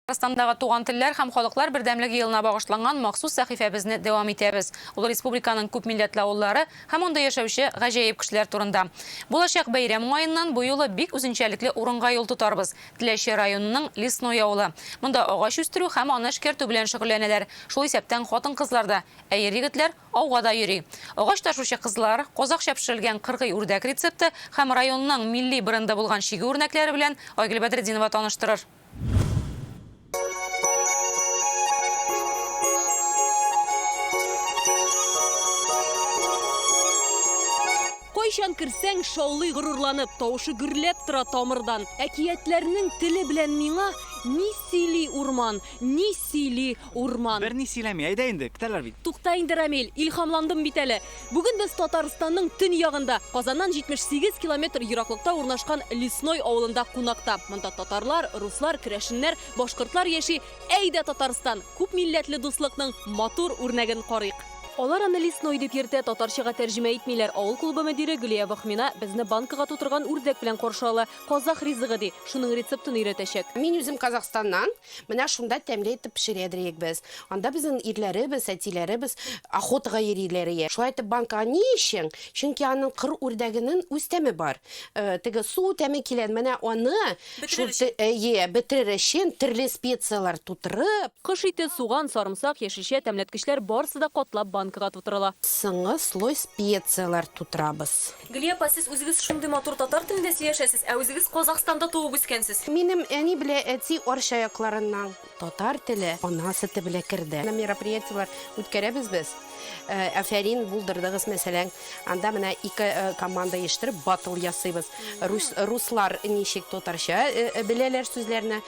Татарстандагы Туган телләр һәм халыклар бердәмлеге елына багышланган махсус сәхифәбезне дәвам итәбез. Ул республиканың күп милләтле авыллары һәм анда яшәүче гаҗәеп кешеләр турында. Булачак бәйрәм уңаеннан бу юлы бик үзенчәлекле урынга юл тотарбыз, Теләче районының Лесной авылы. Монда агач үстерү һәм аны эшкәртү белән шөгыльләнәләр, шул исәптән хатын-кызлар да, ә ир-егетләр ауга да йөри. Агач ташучы кызлар, казакъча пешерелгән кыргый үрдәк рецепты һәм районның милли бренды булган чигү үрнәкләре белән Айгөл Бәдретдинова таныштырыр. Кайчан керсәң, шаулый горурланып, тавышы гөрләп тора тамырдан. Әкиятләрнең теле белән миңа ни сөйли урман, ни сөйли урман. Берни сөйләми, әйдә инде, көтәләр бит. Тукта инде, Рамил, илһамландым бит әле. Бүген без Татарстанның төньягында, Казаннан 78 километр ераклыкта урнашкан Лесной авылында кунакта. Монда татарлар, руслар, керәшеннәр, башкортлар яши. Әйдә, Татарстан, күп милләтле дуслыкның матур үрнәген карыйк. Алар аны Лесной дип йөртә, татарчага тәрҗемә итмиләр. Авыл клубы мөдире Гөлия Вахмина безне банкага тутырган үрдәк белән каршы ала. Казах ризыгы, ди, шуның рецептын өйрәтәчәк. Мин үзем Казахстаннан. Менә шунда тәмле итеп пешерәдер идек без. Анда безнең ирләребез, әтиләребез охотага йөриләр ие. Шулай итеп банкага ни өчен? Чөнки аның кыр үрдәгенен үз тәме бар. Теге су тәме килән, менә аны Бетерер шул өчен. ие, бетерер өчен төрле специяләр тутырып, Кош ите, суган, сарымсак, яшелчә, тәмләткечләр барысы да катлап банкага тутырыла. Соңгы слой специяләр тутырабыз. Гөлия апа, сез үзегез шундый матур татар телендә сөйләшәсез, ә үзегез Казахстанда туып үскәнсез. Минем әни белә әти Арча якларыннан. Татар теле ана сөте белә керде. Мероприятиеләр үткәрәбез без. Афәрин булдырдыгыз, мәсәлән, анда менә ике команда оештырып, баттл ясыйбыз. Руслар ничек татарча беләләр сүзләрне,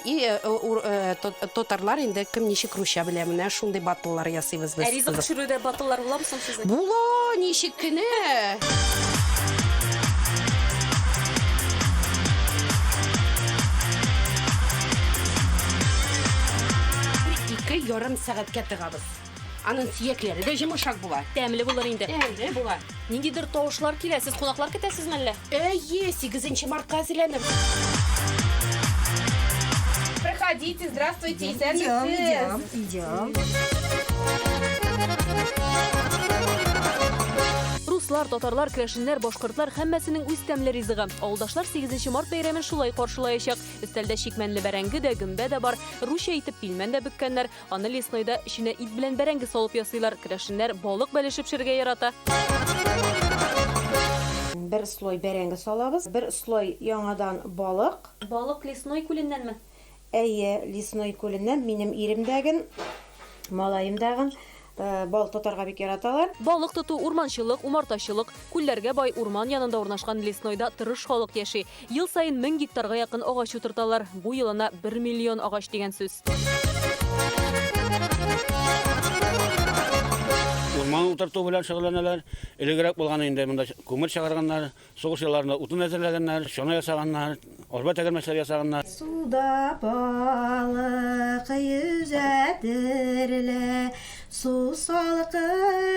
И татарлар инде кем ничек русча белә, менә шундый батыллар ясыйбыз без. Ә ризык пешерүдә батыллар буламы соң сезнең? Була, ничек кенә! Ике ярым сәгатькә тыгабыз. Аның сөякләре дә җимешак була. Тәмле булыр инде. Тәмле була. Ниндидер тавышлар килә. Сез кунаклар көтәсез мәллә? Әйе, 8 мартка әзерләнеп. Проходите, здравствуйте, исәнмесез. Идем, Руслар, татарлар, крәшеннәр, башкортлар һәммәсенең үз тәмле ризыгы. Авылдашлар 8 март бәйрәмен шулай каршылаячак. Өстәлдә чикмәнле бәрәңге дә, гөмбә дә бар. Русча итеп пилмән дә бөккәннәр. Аны леснойда эченә ит белән бәрәңге салып ясыйлар. Керәшеннәр балык бәлешеп пешерергә ярата. Бер слой бәрәңге салабыз, бер слой яңадан балык. Балык Лесной күленнәнме? Әйе, Лесной күленнән. Минем ирем дә ген, малаем да ген балык тотарга бик яраталар. Балык тоту, урманчылык, умартачылык, күлләргә бай урман янында урнашкан Леснойда тырыш халык яши. Ел саен мең гектарга якын агач утырталар. Бу ел ана бер миллион агач дигән сүз. Урман утырту белән шөгыльләнәләр. Элегрәк булган инде монда күмер чыгарганнар, сугыш елларында утын әзерләгәннәр, чана ясаганнар, арба тәгәрмәчләре ясаганнар. Суда балык йөзә, терелә, Су салкынын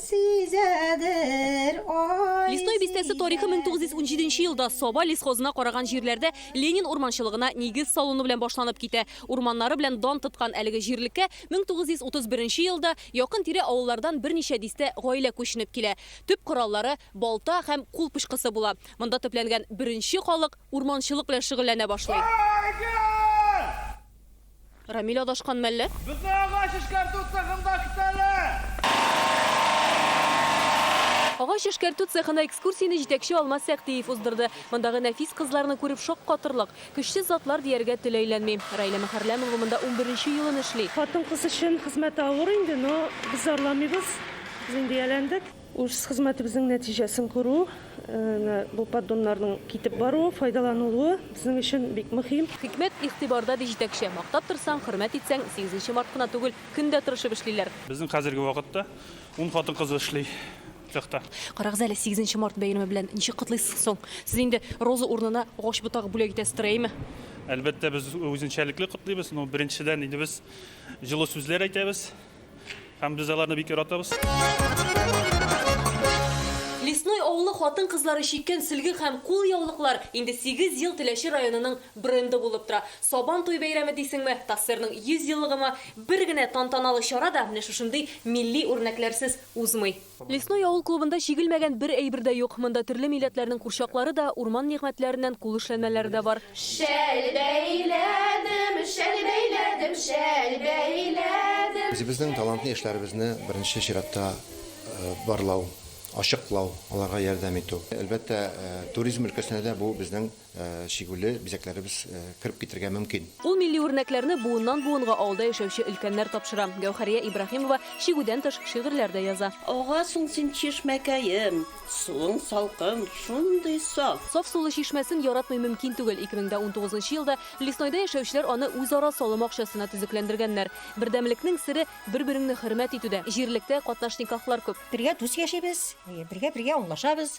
сизәдер ай Лесной бистәсе тарихы 1917 нче елда Саба лесхозына караган җирләрдә Ленин урманчылыгына нигез салыну белән башланып китә. Урманнары белән дан тоткан әлеге җирлеккә 1931 нче елда якын-тирә авыллардан берничә дистә гаилә күченеп килә. Төп кораллары, балта һәм кул пычкысы була. Монда төпләнгән беренче халык урманчылык белән шөгыльләнә башлый. Рамил адашкан мәллә? Безне агач эшкәртү цехында көтәләр! Агач эшкәртү цехына экскурсияне җитәкче Алмаз Сәгъдиев уздырды. Мондагы нәфис кызларны күреп шаккатырлык, көчсез затлар дияргә тел әйләнми. Раилә Мөхәррәмова монда унберенче елын эшли. Хатын-кыз өчен хезмәт авыр инде, но без зарламыйбыз, без инде ияләндек. Үз хезмәтебезнең нәтиҗәсен күрү, менә бу поддоннарның китеп баруы, файдаланылуы безнең өчен бик мөһим. Хикмәт игътибарда, ди җитәкче. Мактап торсаң, хөрмәт итсәң, сигезенче март кына түгел, көн дә тырышып эшлиләр. Безнең хәзерге вакытта ун хатын-кыз эшли цехта. Карагыз әле, сигезенче март бәйрәме белән ничек котлыйсыз соң? Сез инде роза урынына агач ботагы бүләк итәсездер, әйеме? Әлбәттә, без үзенчәлекле котлыйбыз. Ну, беренчедән инде без җылы сүзләр әйтәбез. Һәм без аларны бик яратабыз. Лесной авылы хатын-кызлары чиккән сөлге һәм кул яулыклар инде сигез ел Теләче районының бренды булып тора. Сабан туй бәйрәме дисеңме, ТАССРның 100 еллыгымы, бер генә тантаналы чара да менә шушындый милли үрнәкләрсез узмый. Лесной авыл клубында чигелмәгән бер әйбер дә юк. Монда төрле милләтләрнең курчаклары да, урман нигъмәтләреннән кул эшләнмәләре дә бар. Шәл бәйләдем, шәл бәйләдем, шәл бәйләдем. Үзебезнең талантлы яшьләребезне беренче чиратта барлау, ачыклау, аларга ярдәм итү. Әлбәттә, туризм өлкәсенә дә бу безнең. чигүле бизәкләребез кереп китергә мөмкин. Ул милли үрнәкләрне буыннан-буынга авылда яшәүче өлкәннәр тапшыра. Гәүһәрия Ибраһимова чигүдән тыш шигырьләр дә яза. Агасың син чишмәкәем, суың салкын, шундый саф. Саф сулы чишмәсен яратмый мөмкин түгел. 2019 елда Леснойда яшәүчеләр аны үзара салым акчасына төзекләндергәннәр. Бердәмлекнең сере, бер-береңне хөрмәт итүдә. Җирлектә катнашникахлар күп. Бергә дус яшибез, бергә-бергә аңлашабыз.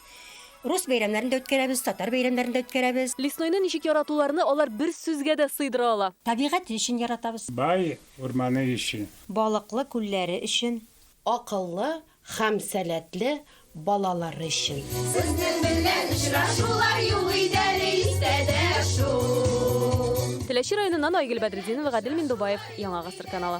Рус бәйрәмнәрен дә үткәрәбез, татар бәйрәмнәрен дә үткәрәбез. Лесной-ны ничек яратуларны алар бер сүзгә дә сыйдыра ала? Табигать өчен яратабыз. Бай урманы өчен. Балыклы күлләре өчен. Акыллы һәм сәләтле балалары өчен. Сезнең белән очрашулар юк иде әле истә дә шул. Теләче районыннан Айгөл Бәдретдинова, Гадел Миндубаев, Яңа гасыр каналы.